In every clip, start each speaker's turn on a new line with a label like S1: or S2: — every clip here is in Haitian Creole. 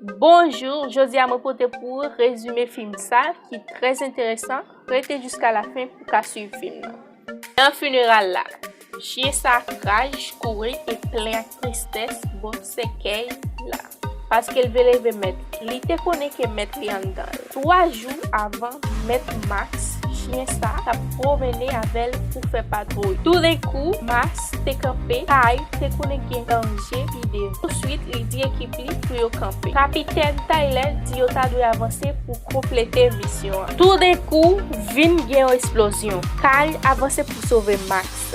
S1: Bonjou, jodi a mwen pote pou ou rezime fim sa ki trèz enteresan, rete jiska la fen pou ka swiv fim nan. Nan funeral la, chyen sa ak raj, kouri e plen ak tristès bò sèkèy la, paske l ve leve mèt li te konnen ke mèt li anndan l. 3 jou avan mèt Max chyen sa tap pwomennen avèl pou fè patwouy toudenkou Max te kanpe Tay te konnen gen danje pi devan touswit li di ekip li pou yo kanpe kapitèn Taylè di yo ta dwe avanse pou konplete misyon an toudenkou vin gen yon esplozyon Tay avanse pou sove Max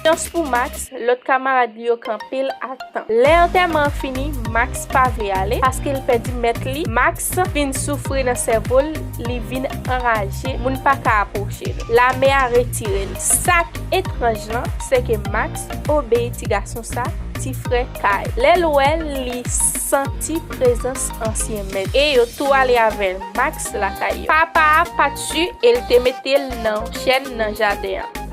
S1: Chans pou Max, lòt kamarad li yo kanpe l a tan. Lè antèman an fini, Max pa vle ale, paske l pèdi mèt li. Max fin soufri nan sèvo l, li vin anraje, moun pa ka apwoche l. Lame a retire l. Sa k etranj lan, se ke Max obeyi ti gason sa, ti frè Kay. Lè l wè l, li santi prezans ansyen mèt. E yo tou ale avè Max lakay yo. Papa a pa t su e l te mete l nan yon chèn nan jaden an.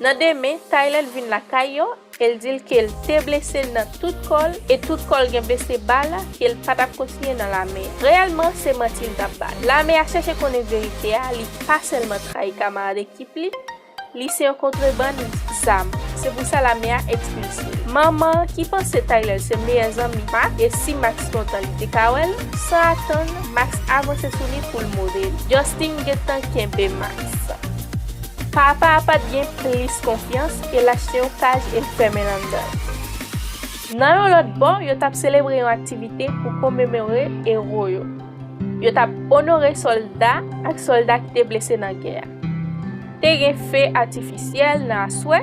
S1: Nan demen, Tyler vin lakay yo e l di l ke l te blese nan tout kò l e tout kò l gen blese bal ke l pa t ap kontinye nan lame a. Reyèlman, se manti l t ap bay. Lame a chèche konnen verite a, li pa sèlman trayi kamarad ekip li, li se yon kontrebann zam. Se pou sa lame a ekspilse l. Mama, ki panse Tyler se meyè zanmi Max e si Max kontan li te ka wè l, San atann, Max avanse sou li pou l move li. Justin gentan kenbe Max. Papa a pat gen plis konfyans e l achte yon kaj e l fèmen l anndan l. Nan yon lòt bò, yo t ap selebre yon aktivite pou komemore ewo yo. Yo t ap onore sòlda ak sòlda ki te blese nan gè a. Te gen fe atifisyèl nan aswè.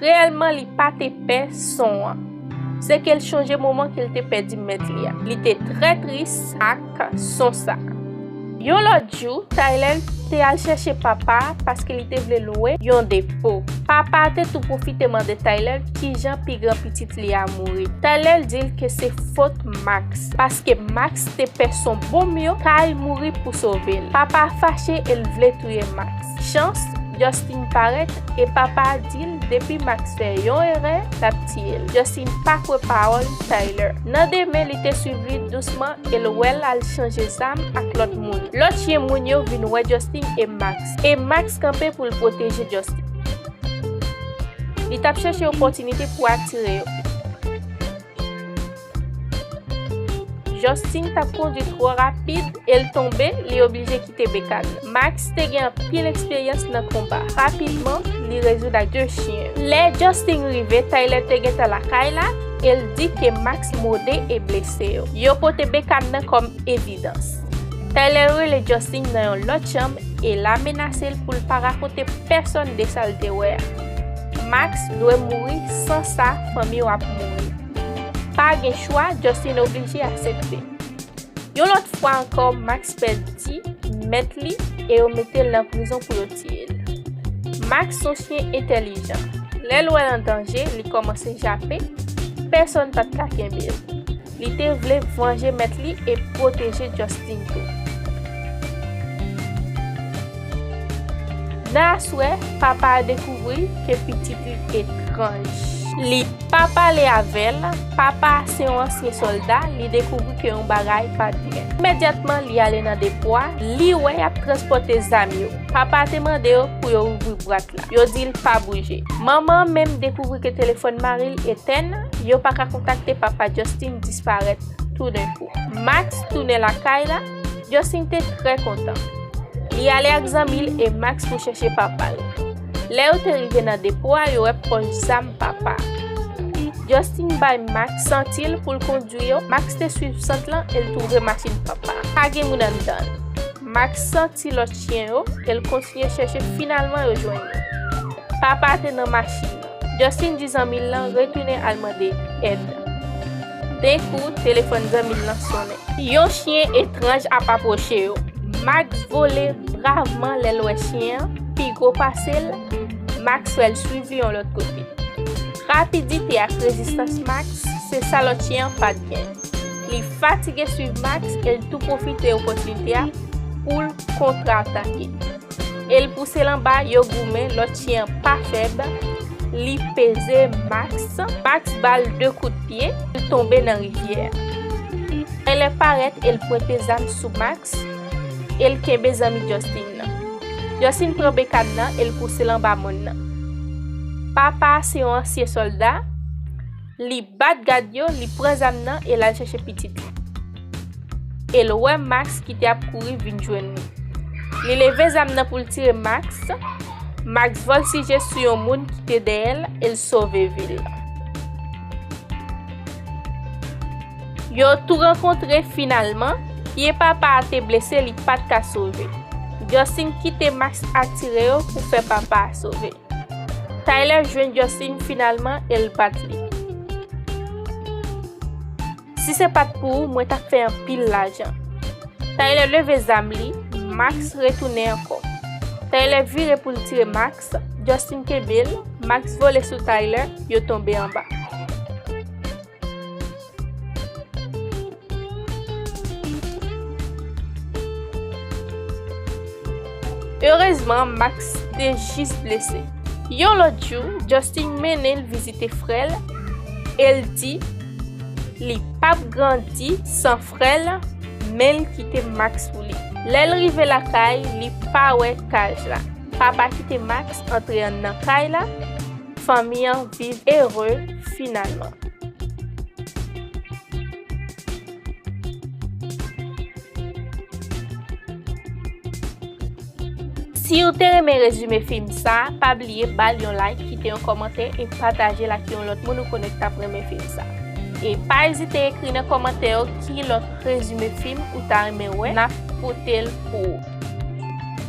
S1: Reyèlman li pa te pè son an. Se ke l chonje moman ke l te pèdi mèt li a. Li te trè tris ak son sa a. Yon lòt jou, Tyler te al chèche papa a paske li te vle lwe yon depo. Papa a te tou pwofite mande Tyler kijan pi gran pitit li a mouri. Tyler di l ke se fot Max, paske Max te pè son bonm yo kay mouri pou sove l. Papa a fache e l vle touye Max. Chans Justin parèt e papa a dil depi Max fè yon erè lap tiyel Justin pa kwè pawòl Tyler nan demen li te swiv li dousman el wèl al chanje zam ak lòt moun lòt chyen moun yo vin wè Justin e Max e Max kanpe poul pwoteje Justin li tap chèche opòtinite pou atire yo. Justin t ap kondi twò rapid e l tonbe, li oblije kite Bekan. Max te gen anpil eksperyans nan konba. Rapidman, li rezoud ak 2 chyen. Lè Justin rive, Tyler te gentan lakay la e l di ke Max mòde e blese yo. Yo pote Bekan nan kòm evidans. Tyler rele Justin nan yon lòt chanm e l a menase l pou l pa rakonte pèsonn de sa l te wè a. Max dwe mouri san sa fanmi w ap mouri. Pa gen chwa, Justin oblije aksepte. Yon lòt fwa ankò, Max pèdi mèt li e yo mete l nan prizon pou yo tiye l. Max son chyen entèlijan. Lè l wè l an danje, li kòmanse jape, pèsonn pa t ka kenbe l. Li te vle vanje mèt li e pwoteje Justin tou. Nan aswè, papa a dekouvri ke pitit li etranj. Li pa pale avè l. Papa a se yon ansyen sòlda, li dekouvri ke yon bagay pa t byen. Imedyatman, li ale nan depo a, li wè y ap transpòte zam yo. Papa a te mande yo pou yo ouvri bwat la. Yo di l pa bouje. Manman an menm dekouvri ke telefòn mari l etèn, yo pa ka kontakte papa Justin disparèt toudenkou. Max tounen lakay la. Justin te trè kontan. Li ale ak zanmi l e Max pou chèche papa l. Lè yo te rive nan depo a yo wè pòch zam papa a. Justin bay Max sant l pou l kondwi yo, Max te swiv sant lan e l twouve machin papa a pa gen moun anndan l. Max santi lòt chyen yo e l kontinye chèche finalman yo jwenn yo. Papa a te nan machin nan. Justin di zanmi l lan retounen al mande èd. Denkou, telefòn zanmi l lan sonnen. Yon chyen etranj ap apwoche yo. Max vole bravman lè l wè chyen an pi gwo pase l. Max fè l swiv li yon lòt kote. Rapidite ak rezistans Max se sa lòt chyen an pa t gen. Li fatige swiv Max e l tou pwofite opòtinite a pou l kontratake. El pousel anba yo goumen lòt chyen an pa fèb li peze Max Max bal 2 kout pye li tonbe nan rivyè a Elè parèt el pwente zam sou Max el kenbe zanmi Justin nan Justin pran bekad nan el pousel anba mòn nan Papa se yon ansyen sòlda. Li bat gad yo, li pran zam nan e l al chèche pitit li. E l wè Maks ki te ap kouri vin jwenn li. Li leve zam nan pou l tire Maks, Maks vòlsije sou yon moun ki te dèyè l e l sove vi l. Yo tou rankontre finalman, pye papa a te blese li pa t ka sove. Justin kite Maks atire yo pou fè papa a sove. Tyler jwenn Justin finalman e l bat li. Si se pat pou ou mwen tap fè anpil lajan. Tyler leve zam li, Max retounen ankò. Tyler vire pou l tire Max, Justin kenbe l, Max vole sou Tyler, yo tonbe anba. Erezman Max te jis blese. Yon lòt jou, Justin mennen l vizite frè l e l di li pap grandi san frè l men l kite Max pou li. Lè l rive lakay, li pa wè Kaj la. Papa kite Max antre nan Kay la. Fanmi an viv ere finalman. Siw te renmen rezime fim sa pa bliye bal yon like kite yon kòmantè e patajel ak yon lòt moun ou konnen ki tap renmen fim sa e pa ezite ekri nan kòmantè yo ki lòt rezime fim ou ta renmen wè nap potel pou ou.